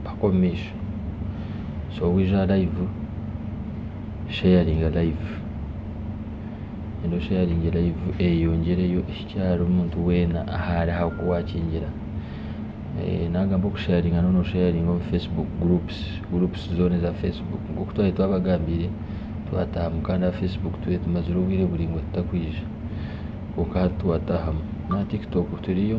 mpaka omu maisho so waija aha layivu sharinga layivu reero osheyaringe layivu eyeyongyereyo ehikye ahari muntu weena ahari aha ku waakingira naagamba okusheyaringa nooba noosheyaringa omu fesibuuku gurupusi, gurupusi zoona eza fesibuuku nk'oku twaba twabagambiire twataahamu kandi aha fesibuuku twaba tumazire obwire buraingwa tutakwija kwonka hati twataahamu, n'aha tikitoku turiyo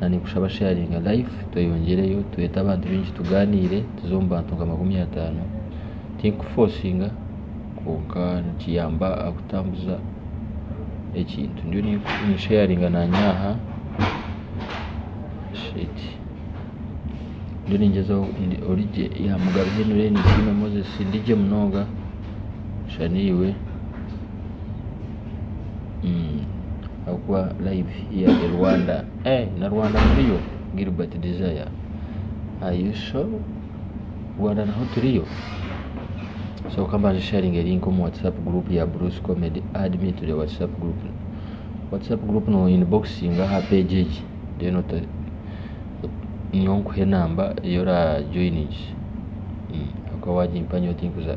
na ninkushaba sharinga life tweyongyereyo twete abantu baingi tuganire tuze omu bantu nka makumi atano tinkufosinga kwonka nikiyamba aha kutambuza ekintu ndiyo ninsheyaringa nanye aha ndiyo ningyezaho ori gye ya mugabe Henry ninsiima Moses ndi gye munonga shana iwe. ahabw'okuba live here in Rwanda eeh na Rwanda turiyo Gilbert Desire are you sure? Rwanda naho turiyo? So ka mbanze nsharinge link omu WhatsApp group ya Bruce Comedy add me to the WhatsApp group WhatsApp group no inboxinga aha page egi then ote nyowe nkuhe enamba ei orajoiningize ahabw'okuba waagimpa nyowe tinkuza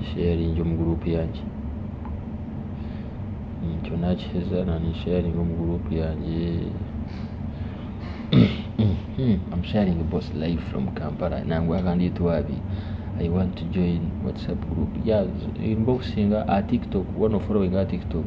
nsheyaringi omu guruupu yangye ekyo naakiheza naakisheyaringa omu guruupu yangye nangwa kandi ei twabire nimba obusinge aha tiktok waaba noforowinga aha tiktok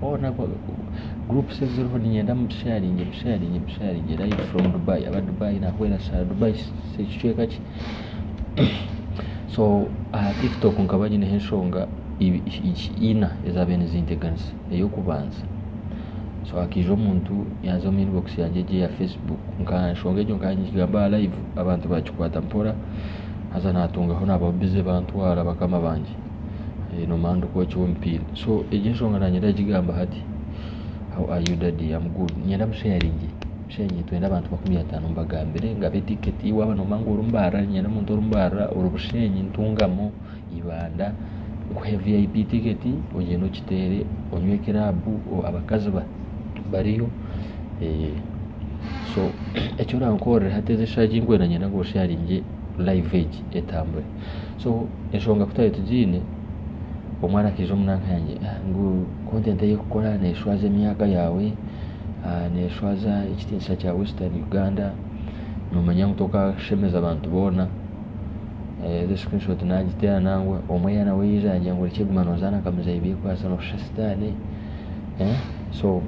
hoona gurupusi eziriho niinyenda muntu sheyaringe busheyaringe busheyaringe rayivu foromu Dubai aba Dubai nahwera shaaha Dubai kicweka ki so aha tiktok nkaba nyineho enshonga ina ezabaire nizinteganisa eyokubanza so hakaija omuntu yaaza omu inibokisi yangye egyo eya fesibuuku nka enshonga egyo nkaba ningigamba aha rayivu abantu baagikwata mpora haza natungaho naabaho bize bantwara bakama bangye. nomanya nokwokya omupiira so egyo enshonga nanyenda kugigamba hati how are you daddy am good niinyenda musheyaringe musheyaringe twende abantu makumi atano mbagambire ngabe ticket waba nomanya ngu orubarira niinyenda omuntu orubarira ori busheenyi ntungamo ibanda nkuhe vip ticket ogyende ogyiteere onywe club abakazi bariyo so ekyorankorera hati ezi eshaaha ezinkwenda niinyenda ngu osheyaringe live egi etambure. so enshonga ku twari tugiine omwana akaija omu nanka yangye ngu content ei orikukora neshwaza emyaka yaawe neshwaza ekitiinisa kya western Uganda nomanya ngu tokashemeza abantu boona egi screenshot nagiteera nangwa omwe yaba nawe yaija yangye ngu orikye guma nozaana nka muzei beikwatse noshusha sitaane so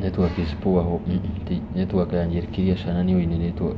network is poor network yangye eri clear shana niiwe oine network.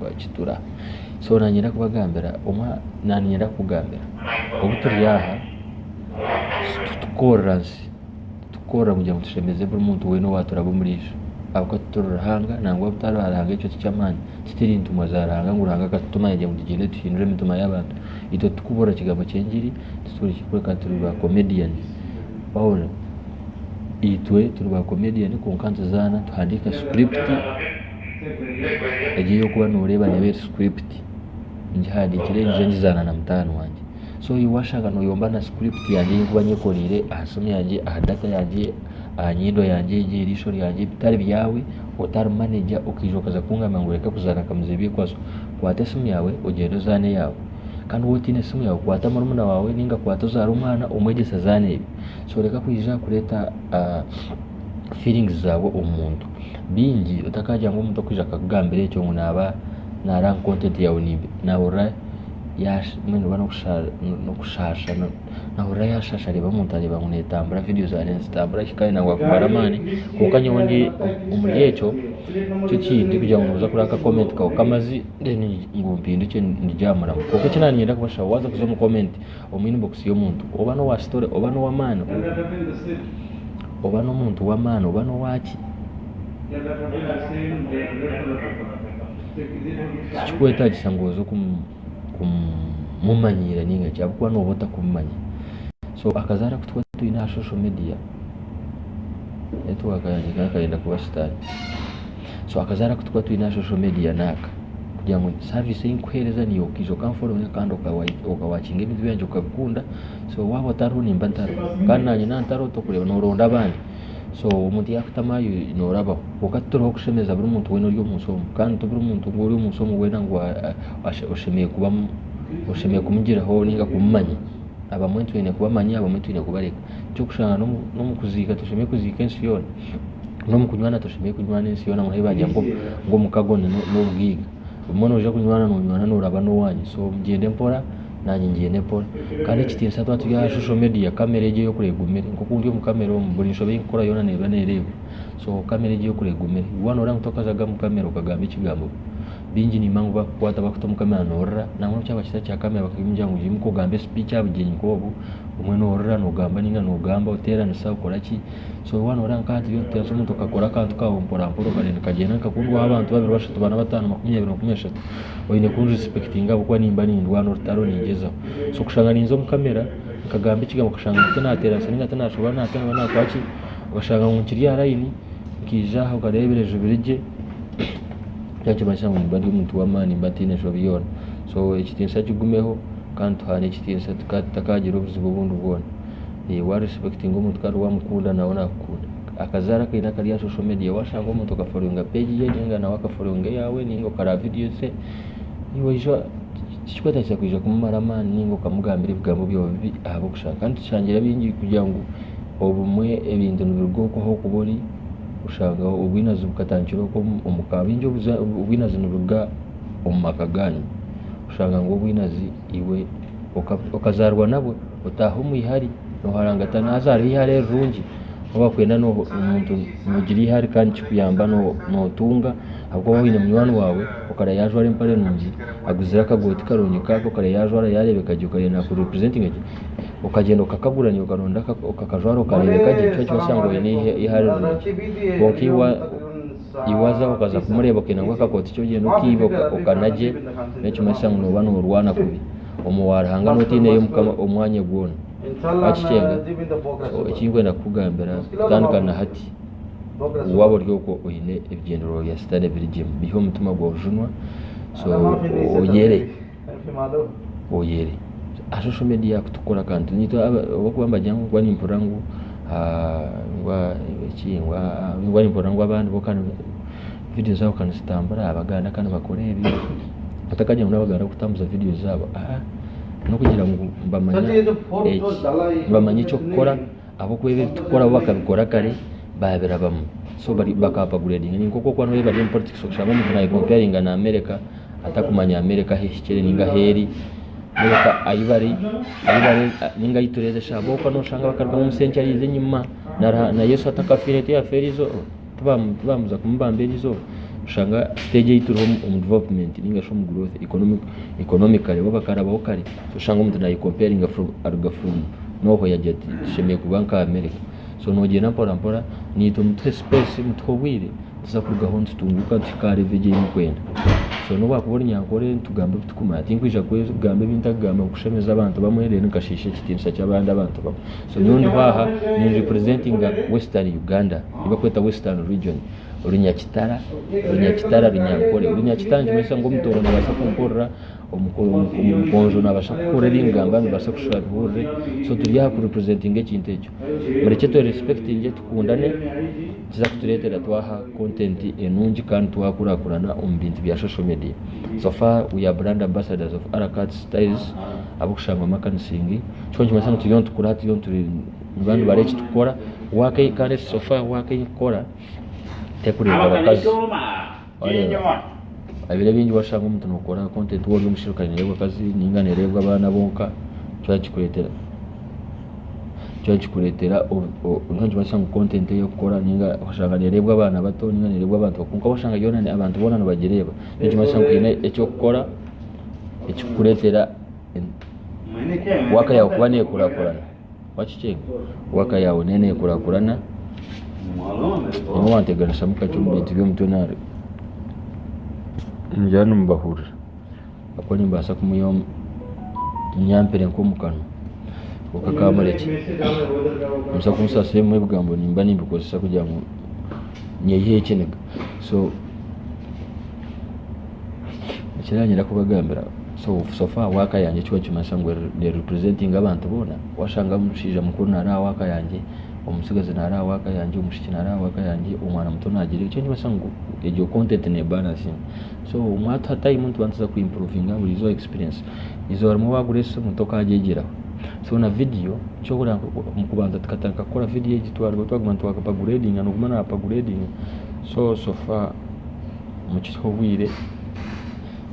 bakitura so nanyenda kubagambira nanyenda kugambira obu turi aha titukorera nsi titukorera kugira ngu tushemeze buri muntu wena owaturaba omuri isho ahabw'okuba tituri ruhanga nangwa bu tari ruhanga ekyo tiky'amaani tituri ntumwa za ruhanga ngu ruhanga akatutuma yagira ngu tugyende tuhindure emitima y'abantu itwe tukuburira kigambo ky'engyeri tituri ki kwonka turi ba comedian wahurira itwe turi ba comedian kwonka nituzaana tuhandiika script. Egi ei orikuba noreeba neeba eri script ngihandikire ngyije ngizaana na mutaano wangye so iwe washanga noyomba na script yangye ei nkuba nyekoreire aha siimu yangye aha data yangye aha nyindo yangye egi eriisho ryangye bitari byaawe otari manager okaija okaza kungamba ngu reka kuzaana nkamuza ebyekwaso kwata esiimu yaawe ogyende ozaane eyaawe kandi waaba otaine siimu yaawe kwata murumuna waawe ninga kwata ozaare omwana omwegyese azaane ebye so reka kwija kureeta feelings zaawe omu muntu. bingi otakaagira ngu omuntu okwija akakugambira ekyo ngu naaba naareeba ngu kontenti yaawe nebi naahurira yaashi mbwenu oba n'okusha n'okushaasha naahurira yaashaasha areeba omuntu areeba ngu neetambura vidiyo zaawe nizitambura hi kandi naawe waakumara amaani kwonka nyowe ndi omuri ekyo nikyo kindi kugira ngu nooza kureeba akakomenti kawe k'amazigye then ngu mpindukye ndigye aha murimo kwonka eki naaba niinyenda kubashabaho waaza kuza omu komenti Omwine bokisi y'omuntu oba n'owa kitore oba n'ow'amaani oba n'omuntu w'amaani oba n'owaki, tikikwetaagisa ngu oze kumumanyiira nainga ki ahabw'okuba nooba otakumumanya. So akazaara aku twaba twine aha shosho midiya, netiwaaka yangye ekaba neeyenda kuba sitaani. so akazaara kutukuba twine aha social media naaka kugira ngu service ei nkukuheereza niiwe okaija okanforominga kandi okawakinga ebintu byangye okabikunda so waaba otariho nimba ntariho kandi naanye naaba ntariho tokureeba nooronda abandi so omuntu yaakutamu ahi noorabaho kwonka tituriho kushemeza buri muntu weena ori omu nsi omu kandi tiburi muntu ori omu nsi omu weena ngu oshemereire kuba oshemereire kumugiraho nainga kumumanya abamwe twine kubamanya abamwe twine kubareka eky'okushanga n'omu kuziika toshemereire kuziika ensi yoona nomu kunywana toshemereire kunywana ensi yoona ngu nobu bagira ngu omukago nobugaiga obumwe noija kunywana nonywana noraba nowanyu so mugyende mpora nanye ngyende mpora kandi ekitiinisa twaba turi aha social media camera egyo eyokora egumire nkoku ndi omu camera omu buri nshobe eyindikukora yoona neeba nerebwa so camera egyo eyokora egumire iwe waba noreeba ngu tokazaga omu camera okagamba ekigambo bingi nimba ngu bakukwata bakuta omu camera norira nangwa nobu kyaba kitari kya camera bakakugira ngu imuka ogambe speech ahabugyenyi nkobu obumwe norira nogamba ninga nogamba oteranisa okoraki. so waaba nooreeba nka hati ebintu omuntu akakora akantu kaawe mporampora okagenda nikagyenda nikakundwaho abantu babiri bashatu baana bataano makumi abiri makumi ashatu oine kundi respectinga ahabw'okuba nimba nindwana orutaro ningyezaho so kushanga ninza omu camera nkagamba ekigambo okashanga ngu tinaateeranisa nainga tinaashoba naataaha naakora ki okashanga ngu nkiri aha layini nkaija aha nkareeba ebireju biri gye ekyo nikimanyisa ngu nimba ndi omuntu w'amaani nimba ntaine nshobi yoona so ekitiinisa kigumeho kandi tuhaane ekitiinisa tutakaagira obuzibu obundi bwona wa respectinga omuntu kandi wamukunda nawe nakukunda akazaara akaine akari aha social media washanga omuntu oka followinga page ye ninga nawe aka followinga eyawe ninga okaraba video ze niwija tikikwetagisa kwija kumumara amaani ninga okamugambira ebigambo byawe bibi ahabw'okushaba kandi tushangire abaingi kugira ngu obumwe ebintu nibiruga oku ah'okuba ori oshanga obwinazi bukatandikira oku omuka abaingi obwinazi niburuga omu maka ganyu oshanga ngu obwinazi iwe okazaarwa nabwo otaahe omu ihari nooharangatana haza hariho eihari erirungi obu barikwenda omuntu noogira eihari kandi nikikuyamba nootunga ahabw'okuba waaba oine munywani waawe okareeba yajwara empare nungi aguzire akagooti karungi nk'ako okareeba yajwara yaareebeka gye okareeba naaku representinga gye okagyenda okakagura niiwe okaronda okakajwara okareebeka gye nikyo kitubaasa kugira ngu oine eihare rirungi kwonka Iwe waza okaza kumureeba okaine ngu akakooti ki ogyenda okaiba okana gye, n'ekimanyisa ngu noba norwana kubi omu wa Ruhanga noba otaineyo Mukama omwanya gwona. Wakikyenga? So ekinkwenda kukugambira kutandika na hati, waba ori okwo oine ebigyendererwa bya sitane ebiri gye, biihe omutima gwa bujunwa, so oyere. oyere aha social media kutukora akantu nitwe ahabw'okuba nibagira ngu nimpurira ngu eki ngu nimpurira ngu abandi bo vidiyo zaabo ka nizitambura aha Baganda ka nibakora ebi otakagira ngu n'Abaganda barikutambuza vidiyo zaabo aa n'okugira ngu nibamanya eki nibamanya eky'okukora Ahabw'okuba ebi turikukora bo bakabikora kare baabirabamu so bakaba baguredinga. Ni nk'oku orikuba nooyega byo omu politics oshanga omuntu naayekompayaringa na America atarikumanya America ahu ehikire nainga ahu eri nainga ka ahu bari ahu bari nainga ahu turikureeba eshaaha ahabw'okuba nooshanga bakarugamu omusenkye araize enyima na Yesu atakafiire tiyafeerize orwo. tibaamuza kumubamba eryo eizooba oshanga siteegi ei turiho omu divurupumenti nainga shi omu guroothu ikonomikare bo bakarabaho kare so oshanga omuntu nayekomperinga aruga furomu n'ohwo yaagira ati tushemereire kuba nka Amereka so noogyenda mporampora naitwe mutuhe sipeesi mutuhe obwire tuza kurugaho nitutunguuka nituhika aha revo ei orikwenda so n'obu waakuba ori nyankore nitugambe ebi turikumanya tinkwija kugamba ebi ntarikugamba ngu kushemeza abantu bamwe reero nkashiisha ekitiinisa ky'abandi abantu bamwe so nyowe ndiho aha ni representinga western Uganda ei barikweta western region Runyakitara Runyakitara Runyankore Runyakitara nikimanyisa ngu Omutooro naabaasa kunkorera Omukonjo naabaasa kukora ebi ningamba nibaasa kushusha bihurire so turi aha ku representinga ekintu ekyo murekye twe respectinge tukundane nikiza kutureetera twaha content enungi kandi twakurakurana omu bintu bya social media so far we are brand ambassadors of Aracats tiles abarikushangwa Makanisingi kyo nikimanyisa ngu turiyo nitukura turiyo niba nibara eki turikukora wake kandi eki sofa wake ei nkukora terikureebwa abakazi wareeba ebiro ebingi washanga omuntu nookora content waaba ori omushaija kandi neereebwa abakazi ninga neereebwa abaana bonka nikyo nikikureetera nikyo nikikureetera nikyo nikimanyisa ngu content ei orikukora ninga oshanga neereebwa abaana bato ninga neereebwa abantu bakuru kwonka washanga yoona abantu boona nibagireeba nikimanyisa ngu haine eki orikukora ekikukureetera waaka yaawe kuba neekurakurana wakikyenga waaka yaawe neyo neekurakurana nyowe wanteganishamu kakye omu bintu by'omutwe nari nimugyenda nimubahurira ahabw'okuba nimbaasa kumuha nyampire nk'omu kanwa kwonka ka murekye nimbaasa kumusaasira ebimwe ebigambo nimba nimbikozesa kugira ngu nyeyihe ekiniga so Ekinagira kubagambira so so far work yangye kikaba nikimanyisa ngu ne representinga abantu boona washanga omushaija mukuru nari aha work yangye omutsigazi nari aha work yangye omwishiki nari aha work yangye omwana muto nagira ekyo nikimanyisa ngu egyo content ne baransinga so mwatuha time nituba nituza ku improvinga buri izooba experience izooba rimwe wagura esimu tokagyegyeraho so na vidiyo kyobuhurira ngu kubanza tukatandika kukora vidiyo egi twarugaho twaguma nitwa apaguredinga noguma na apaguredinga so so far. omu kiriho obwire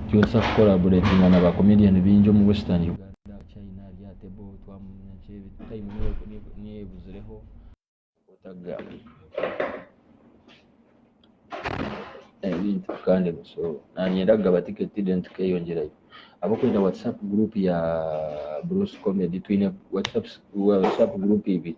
twena tuza kukoraboretinga na ba comedian baingi omu western Uganda aha China ahari aha table twamanya nki ebi time niyo ebuzireho otaga ebintu kandi so nanyenda kugaba ticket then tukeyongyerayo ahabw'okwenda whatsapp group ya Bruce comedy twine whatsapp group ibiri.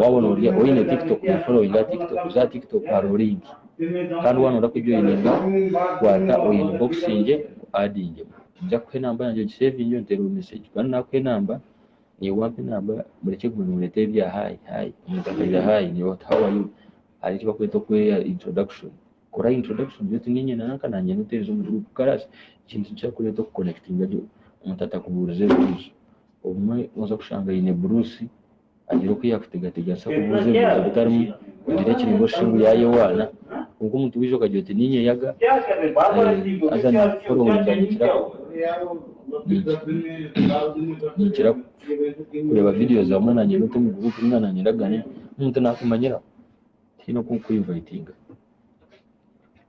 Waaba noorya oine tiktok noshusha ori aha tiktok. Oze aha tiktok hariho link kandi waaba nooza kujoininga kwata oyi inibokisingye ngu adinge. Ninza kuha enamba yangye ogisevinge onteereho mesegi kandi naakuha enamba naiwe wampa enamba murekye kuguma nimureeta ebi bya hi hi. Omuntu akaija hi hi, how are you? Hariho eki barikweta okweha introduction. kora introduction beitu niinye nanka nangye niwe twaize omu group karaasi ekintu nikirikureeta oku connectinga gye omuntu atakubuurize ebibuuzo obumwe noza kushanga aine buruusi agira oku yakutegategase akubuuze ebibuuzo bitarimu ogira eki ninga oshishe ngu yayewaana kwonka omuntu waija okagira oti niinye yaga haza nakuforonda ninkira ninkira kureeba videos hamwe nangye niwe oti omu group ninga nangye ndagarukamu omuntu nakumanyiraho. tihaine oku nkukweinvaitinga.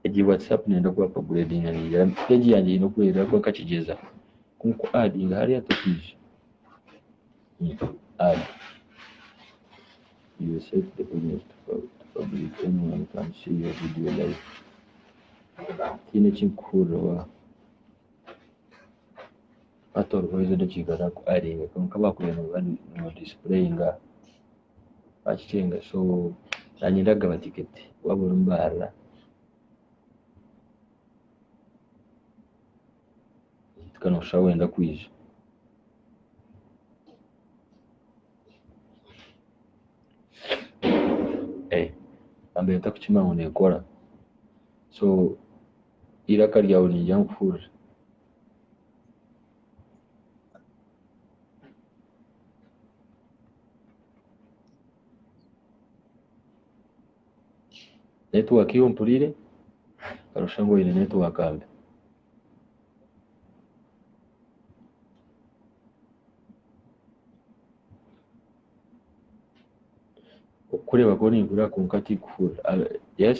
Egi Whatsapp neeyenda ku apagureedinga neeyera peegi yangye eine oku erikuba ahakuba nkakigyeza ku nku adinga hariya tokiija. Tihaine eki nkukuhurira waaha. Hati oriho oihireho edakiika zaawe ku adinga kwonka baakureeba nooba noodisipureyinga. bakicenga so nanye ndagaba ticket waba ori mbarara beitu nosha wenda kwija nambere ntakukimanya ngu nekora so eiraka ryawe ningira ngu hurira. Network yo mpurire arusha ngu oyine network mbi. Okukureeba kuba ninkureeba kwonka tikuhurira. Yes.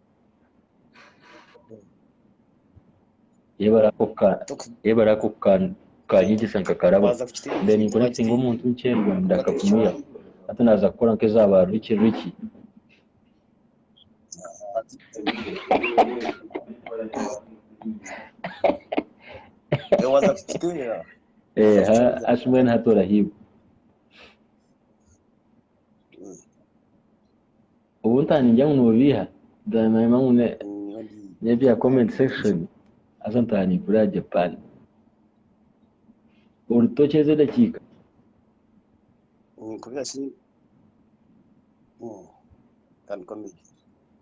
yebare ako ka yebare ako ka kanyegyesa nkakarabo mbere ninkonekitinga omuntu nkyerwa ndakafumuya hati naza kukora nk'eza ba Ricky Ricky waza kukitinga eh ha ashimwe nahati orahiibwa Obu ntaningira ngu nobiiha then nanyima ngu nebya comment section haza ntaaha ninkurira aha Japan. Orutookye ezo edakiika.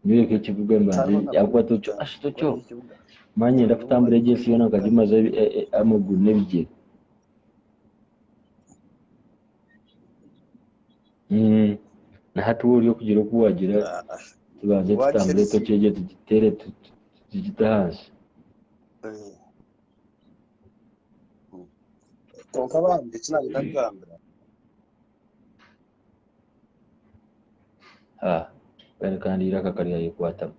Nyoreka ekibuga mbanze ahakuba Tokyo ashi Tokyo manya niinyenda kutambura egyo ensi yoona nkagimaze amaguru n'ebigyere. Mm. Na hati wowe ori okugira oku wagira Ah, ah. tubanze Wagira tutambure eki? toki egyo tugitere tu- tu- tugite ahansi. Eh. Mm. Kwonka bambi eki naayenda kugambira Ha. Kandi kandi eiraka karyayekwatamu.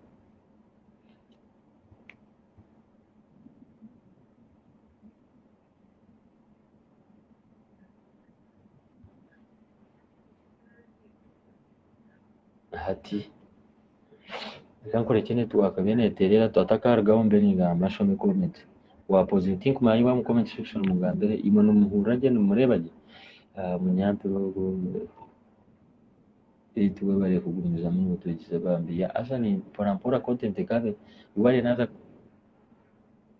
Hati reka nkurekye network eriyo neterera twata akarugaho mbe ningamba show me comment wapoza oti nkumanya ngu omu comment section mungambire imwe nimuhurira gye nimureba gye Ah, munyampire ogu Eti webare kugumizamu notwegize bambi ya asa ni mpora mpora content ekabe webare naza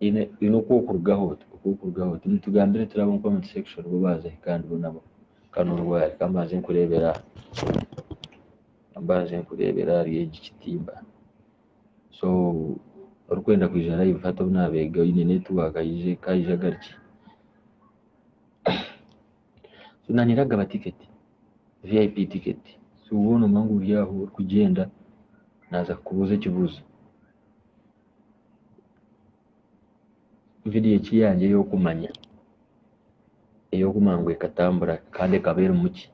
haine oku orikurugaho oti oku orikurugaho oti nitugambira turi ab'omu comment section bo baaza hi kandi bo nabo ka nooruga ahari ka mbanze nkureebere aha ka mbanze nkureebere ahari egi kitimba so orikwenda kwija live hati ou naabeega oine network aije ka aije agarukye so naanye ndagaba ticket vip ticket so woona omanyire ori aho orikugyenda naaza kukubuuza ekibuuzo. vidiyo egi yangye ey'okumanya ey'okumanya ngu ekatambura kandi ekaba erimu ki?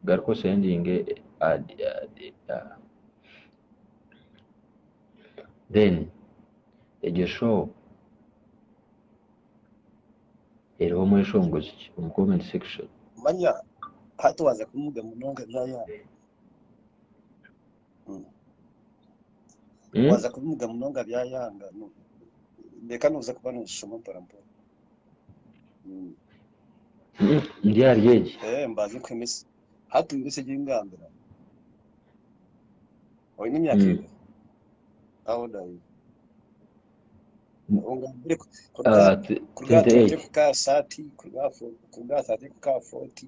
Garuka osendinge adi adi aa then egyo show eriho omweshongozi ki omu comment section? Manya hati waza kumuga munonga byayaaha. Mm. waaza kubimuga munonga byayanga no- reka nooza kuba noozishoma mporampora Mm. Mm, ndi ahari egi Eh, mbaze nkuhe mesi hati mesi egi ngambira oine emyaka Mm. ega how old are you ongambire ku- kuruga Ah, t- kuruga aha 28 20 kuka aha 30 kuruga aha fo- kuruga aha 30 kuka aha 40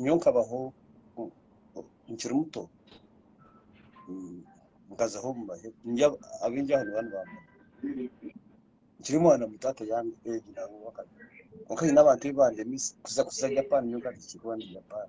Nyowe nkabaho nkiri muto nkazaho abingi aha nibo nibamanya nkiri mwana muto ati kwonka haine abantu ebi bandemize kuza Japan nyowe nkaba tinkirikuba ndi Japan.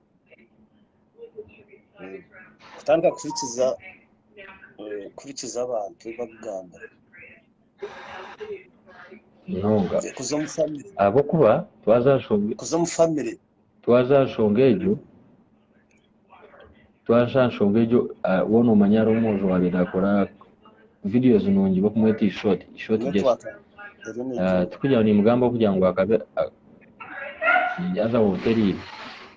kutandika kuhurikiza kuhurikiza abantu bakugamba munonga kuza omu famire ahabw'okuba twaza aha nshonga kuza omu famire twaza aha nshonga egyo twaza aha nshonga egyo ah, woona omanya hariho omwojo waabe naakora videos nungi bakumweta ishoti ishoti Jesu Ah, tikugira ngu nimugamba kugira ngu akabe ah, Ninyaza wonka erindi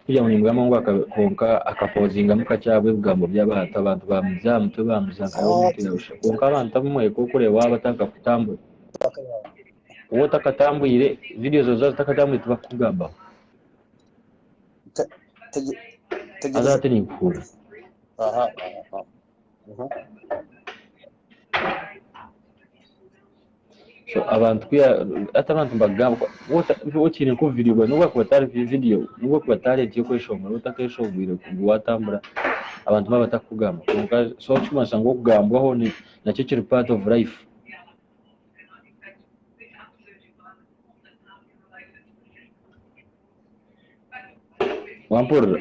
kurya ngu nimbwamu ngu kwonka akapozingamu kakye ahabw'ebigambo by'abantu abantu baamuza aha mutwe baamuza nka yaaba omuntu yaabusha kwonka abantu abamwe ku orikureeba waaba otarikakutambura waaba otakatambwire vidiyo zaawe zaaba zitakatambwire tibakukugambaho haza hati ninkuhurira abantu hati abantu nibagamba waaba okiine nka obuvidiyo bwawe nobu bwakuba atari vidiyo nobu bwakuba atari eky'okweshongora waaba otakeshongwire ngu waatambura abantu baaba batarikukugamba kwonka so ekirikumanyisa ngu okugambwaho nakyo kiri part of life wampurira?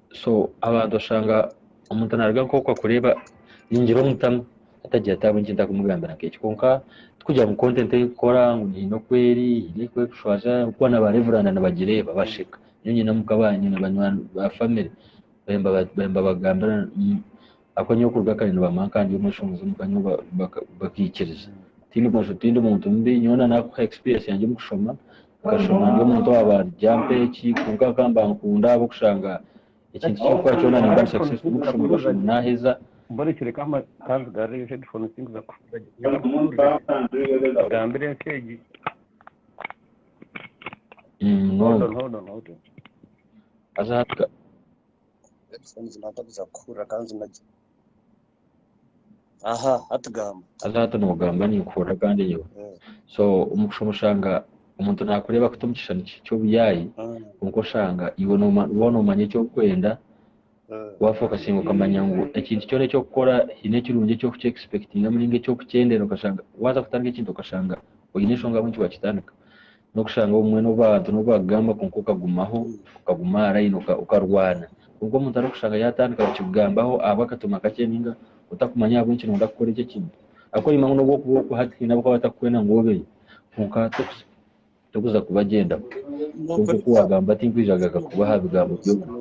so abantu oshanga omuntu naruga nk'oku akureeba ningira omutamu atagira ati ahabw'enki ntakumugambira nk'eki kwonka tikugira ngu content ei nkukora ngu hiine oku eri hiine oku erikushwaza ahabw'okuba na ba reveranda nibagireeba basheka nyowe nyine omuka baanye na banywani ba family baabe nibabagambira Ahabw'okuba nyowe kuruga kare nibampa nkandyomwe enshonga z'omuka nyowe bakaikiriza. Tindi mwojo, tindi muntu mubi, nyowe na naakuha experience yangye omu kushoma, nkashoma ndi omuntu owaaba ari jampa eki, kwonka nkaba nimbankunda ahabw'okushanga ekintu eki nkukora kyona nimba ndi successful omu kushoma nkashoma naaheza. Munonga. Haza hati noogamba ninkuhurira kandi nyowe so omu kushooma oshanga omuntu naakureeba kuta omu kishushani ky'obuyaayi kwonka oshanga iwe waaba noomanya eki orikwenda waafokasinga okamanya ngu ekintu kyona eki orikukora haine ekirungi eki orikukyegisipekitingamu nainga eki orikukyenderera okashanga waaza kutandika ekintu okashanga oine enshonga ahabw'enki waakitandika N'okushanga obumwe n'obu abantu n'obu baakugamba kwonka okagumaho, okaguma aha layini okarwana. Kwonka omuntu arikushanga yaatandika kukigambaho ahabwa akatooma kakye nainga otakumanya ahabw'enki nooyenda kukora ekyo ekintu. Arikworima ngu n'obu orikuba ori hati haine abu barikuba batakukwenda ngu obeyo kwonka torikuza kubagyendaho. Kwonka oku waagamba tinkwija kugaruka kuba aha bigambo by'obumwe.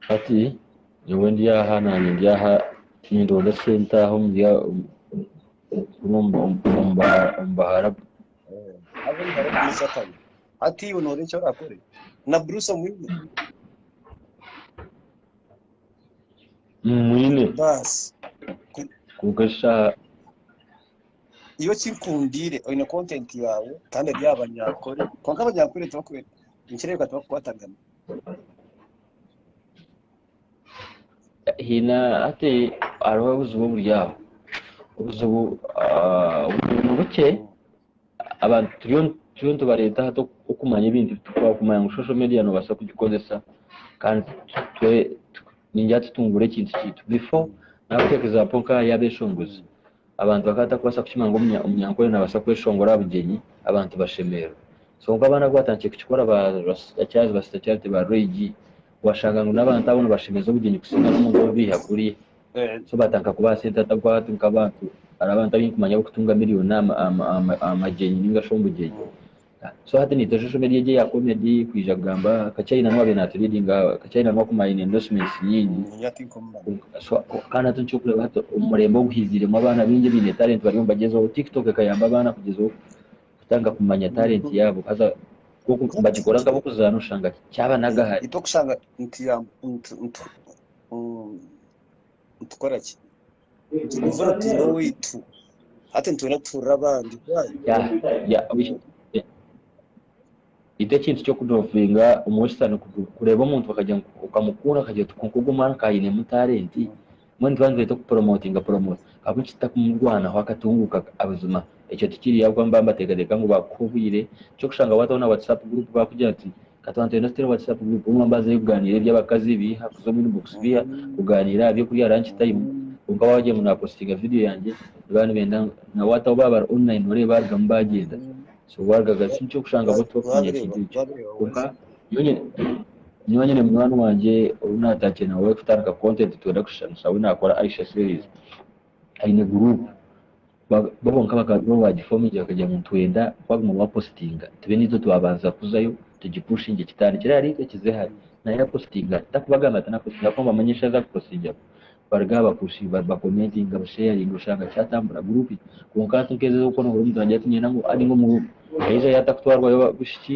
Hati nyowe ndi aha naanye ndi aha nindoonda sente aha omuri omu baharabu. Haza omuhara omugurusi akaba, Hati iwe noorora eki orakore? Na Bruce omwine? Mmwine, Baasi. Ku- kwonka shaaha Nyowe ekinkundiire oine content yaawe kandi eri aha banyankore kwonka abanyankore nikireebeka tibakukwatagana haine hati hariho obuzibu oburi aho obuzibu ah, obuzibu ni bukye abantu turiyo turiyo nitubareeta hati oku- okumanya ebintu bitukubaho kumanya ngu social media noobaasa kugikozesa kandi twe- ningira tutungure ekintu kyaitu before nakuteeka example nk'aha y'abeshongozi Abantu bakaba batakubaasa kukimanya ngu omunyankole naabaasa kweshongora aha bugyenyi abantu bashemererwe. Kwonka abaana ku baatandikire kukikora ba Rasta Charles, ba Sister Charity, ba Roy G, waashanga ngu n'abantu abo nibashemeza obugyenyi kusinga n'omuntu ou baiha kuriya. So baatandika kubaha sente hati ahabw'okuba hati nk'abantu hariho abantu abu ndikukimanya abarikutunga miriyoni aha magyenyi nainga shi omu bugyenyi. So hati naitwe social media egi eya comedy kwija kugamba ka china nuwe abe natu readinga ka china nuwe akume ayine endorsements nyingi so kandi hati nikyokureba hati omurembe oguhiziremu abaana bingi abaine talent bariyo nibagyezaho tiktok ekayamba abaana kugyezaho kutandika kumanya talent yabo haza nkoku nibagikora nka abokuzana oshanga kyaba nagahari. nitukora ki? Nitwejura twine owaitu, hati nitwenda kutuurira abandi. Why? Ita ekintu ky'okudovinga omu bweshushaani kureeba omuntu bakagira ngu okamukuura akagira oti kwonka ogwo omwana ka ainemu talenti, mbwenu nituba nitweta okupromotinga promoota ahabw'enki tutakumurwanaho akatunguuka buzima? Ekyo tikiri ahabw'okuba nibaba nibateekateeka ngu baakuha obwire, ky'okushanga waataho na WhatsApp group baakugira nti, Ka twantenda tutera owakiza kuguma mbaza y'okugaaniira eby'abakazi biiha kuza omu inbox biiha kugaaniira aha by'okurya lunch time kwonka waagira ngu naapositinga vidiyo yangye nibaba nibenda na what ahu baabari online oreeba baarugamu baagyenda so waarugaga si nikyo kushanga bo tibakutiinya kintu ekyo kwonka nyowe nyine nyowe nyine munywani wangye ou naataakire nawe kutandika content twenda kushushana naawe naakora Aisha series aine group Bo bonka bakaba nibo baagifa omugyera bakagira ngu nitwenda kwaguma waapositinga tube naitwe twabanza kuzayo tugipushinge kitandikire ahari itwe kize hare. Nawe yapositinga ati, Ndakubagambira nti napositinga ahakuba mbamanya ensha za kupositingiramu. Baruga aha bakushi bakomentinga busheyaringa oshanga kyatambura guruupi. Kwonka hati nk'ezo ez'okukonohora omuntu naagira ati niinyenda ngu abe omu bo. Aija yatakutwarwayo bushuki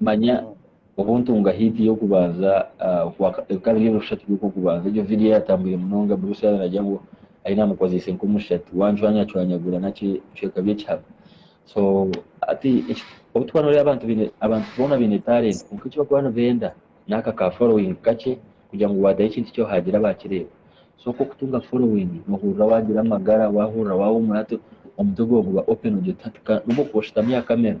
manya obu ntunga hit y'okubanza ebika biri ebyokushatu by'okubanza egyo video yatambwire munonga Bruce yaba nagya ngu ayi namukozeise nk'omushatu wancwanyacwanyagura naki ebicweka by'ekihara so ati obu tuba noreeba abantu baine abantu boona baine talent kwonka eki bakuba nibenda n'aka ka following kakye kugira ngu wadayo ekintu kyo hagira abakireeba so nk'okutunga following nohurira wagira amagara wahurira wahumura ati omutwe gwawe guba open ogira oti hati ka nobu okuba oshutami aha camera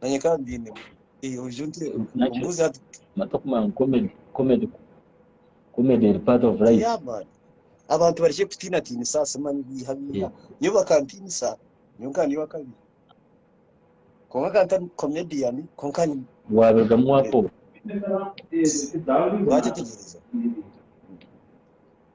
nanye ka mbyinemu eh oije onte Nakyo. ombuuze hati Matoku man comedy comedy comedy eri part of life. yeah man abantu barekye kutiinatiinisa aha simu mani biiha biiha Yeah. nyowe bakantiinisa nyowe nkaba ndi ow'akabi kwonka nkaba ntari comedian kwonka ni Waabirugamu waafooka. baakyetegyeereza.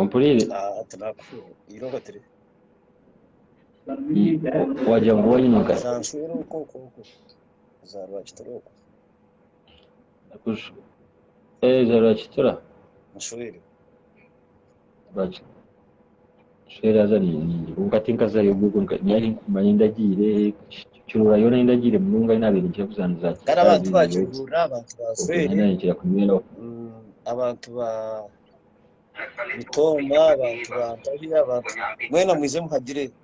ompuriire Ah, tinaku- irobo tiri Ii, o- wagira ngu wayimuka za nshwera oku oku oku za rwakitura oku Kush- eh, za rwakitura nshwere Rwaki- Ekishushani haza ningira kwonka tinkazaayo obwo nari nkumanya endagiire kiroora yoona y'endagiire munonga ei naabaire ninkira kuza niza kare abantu ba kigurura abantu ba fweere ninkira kunyweraho abantu ba bitooma abantu ba ntahi abantu mwena mwije muhagireyo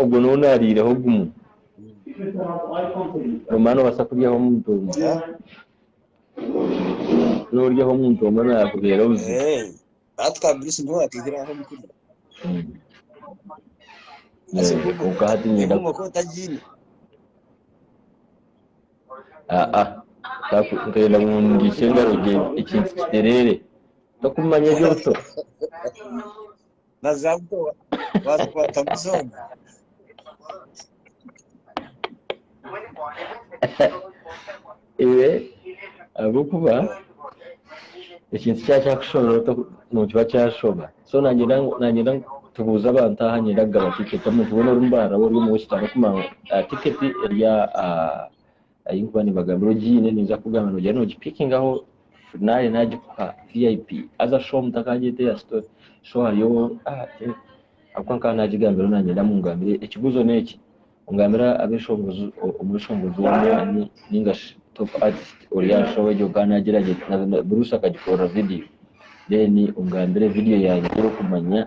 Ogwo n'ou naariireho gumwe. Obumwe noobaasa kuryaho omuntu omwe. N'oryaho omuntu omwe naakubeera obuzibu. Kwonka hati niinyenda ngu ngiise engaro gye ekintu kitereere. Tokumanya eby'obuto. ahabw'okuba ekintu kyaba kyakushobera ota nikiba kyashoba so nangenda nangenda tubuuze abantu aha ngenda kugaba tiketi omuntu weena oru mbaara ori omu west arikumanya tiketi eri aha ahukuba nibagambira ogiine naija kukugambira nogira nogi pikingaho naaye nagikuha vip haza show omuntu akagyeta eya story show hariyo ahakuba nkaba nagigambiraho nanye nindamu ngambire ekibuzo neki ongambire abeshongozi omweshongozi wamaani ningashi top artist ori aha show egyo nkaba nagira gye buruusi akagikorera video then ongambire video yangye eyokumanya.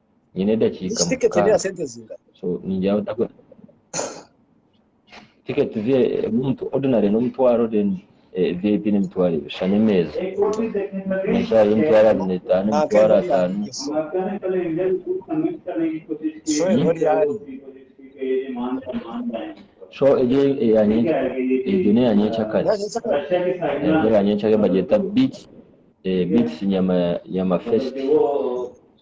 nyine edakiika mukaaga so ningira ngu ntakora tiketi zi omuntu ordinary n'omutwaro then eh, vip n'emitwaro ebiri shana emeeza nashaaha y'emitwaro abiri n'etaano emitwaro ataano so egyo eyanyenkyakare egyo n'eyanyenkyakare egyo eyanyenkyakare bagyeta beats eh, beats nyama nyama fest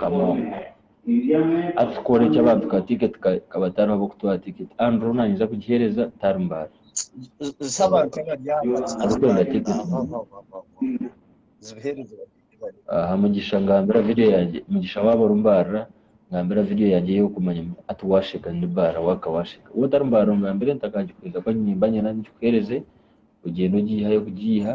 Kamoga. Atukora eki abantu ka ticket kaba tariho abokutwara ticket Andrew hoona nayija kugihereza tari mbaara. Arukwenda ticket aha Mugisha ngambira video yangye Mugisha waba oru mbaara ngambira video yangye eyokumanya ati washeka ndi mbaara waka washeka woba otari mbaara ongambire ntakagikwija kuba nimba nyena ngikuhereze ogyende ogyihayo kugiiha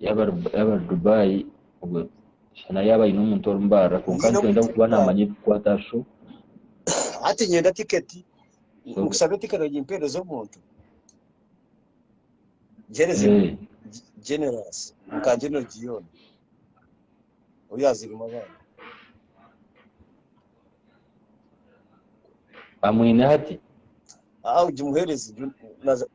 Yaaba ari yaaba ari Dubai obwo shana yaaba aine omuntu orimubaarira kwonka Nyine nikwenda omuntu kuba orimubaarira. naamanya ebikukwata aha show. Hati nyenda tiketi nkushabe tiketi ogimpeereze omuntu gihereze Eh, generous nka general Gion oyu azirimu abaana amwine hati. aa ogimuheereze ju- naza-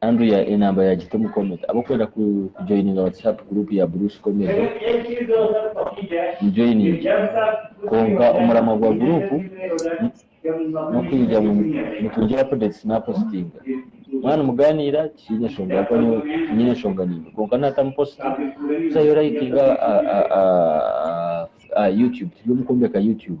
Andrea enamba ya Giti omu comment. Ab'okwenda ku joininga whatsapp group ya Bruce Comedy mu joining kwonka omuramwa gwa group n'okwija ngu nitungira updates na postinga. Mwanu muganiira tikiine nshonga ahakuba nyowe tinyine enshonga niimwe kwonka naata mu post busayo orayikinga aha youtube turi omu kwombeka youtube.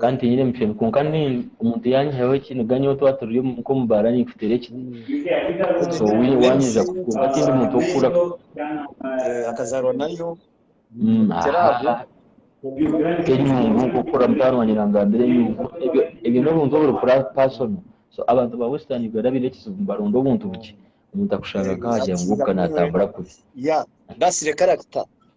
kandi tinyine mushoni kwonka nyowe omuntu yanyihaho eki niga nyowe twaba turi nk'omubaara ninkuteera eki so wanyija ku kwonka tindi muntu w'okukura Eh, akazaarwa nayo Mm, Tera aha, aho. aha. nk'enyungu nk'okukura mutaano wangye nangambira enyungu ebyo ebyo n'obuntu oburi pra- personal so abantu ba western uganda baine ekizibu nibaronda obuntu bukye omuntu akushanga nk'aha kyanguuka natambura kubi ya ndasire character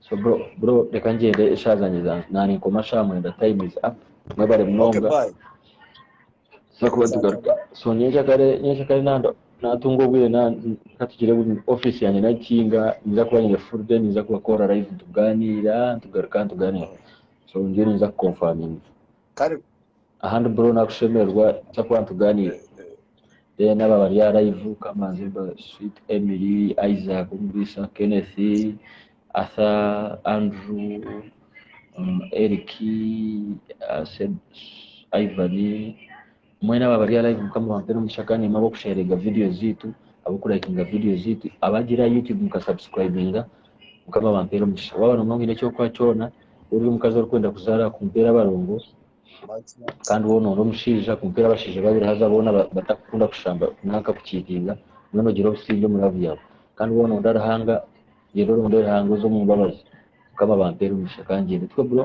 So bro, bro reka ngyende eshaaha zangye za- naanikoma shaaha mwenda time is up mwebale Okay, munonga bye. tuza kuba nitugaruka so nyenkya kare nyenkya kare nanda naatunga obwire na- katugire bu- office yangye nagikinga ninza kuba nyine full day ninza kubakoorra live nitugaaniira nitugaruka nitugaaniira so ndiyo ninza kuconfaminga kare. Ahandi bro nakushemererwa kyakuba nituganira then aba abari aha live kamanzi ba sweet Emily, Isaac omuriisa, Kenneth, Arthur, Andrew, Eric, Ivan, Mwena aba bari alive mukama bampere omugisha kandi nimwe abokusharinga videos zitu abokurakinga videos zitu abagire aha YouTube muka subscribinga mukama bampere omugisha waba nobunga ngu oyine ekyokuha kyona ori omukazi orikwenda kuzara kumpera abarongo kandi wona ori omushaija kumpera abashaija babiri haza bona batakukunda kushamba nanka kucheatinga mbwenu ogire obusingye omu love yawe kandi wona oronda Ruhanga genda orondere Ruhanga oze omumbabazi mukama bampere omugisha kangyende twe bro.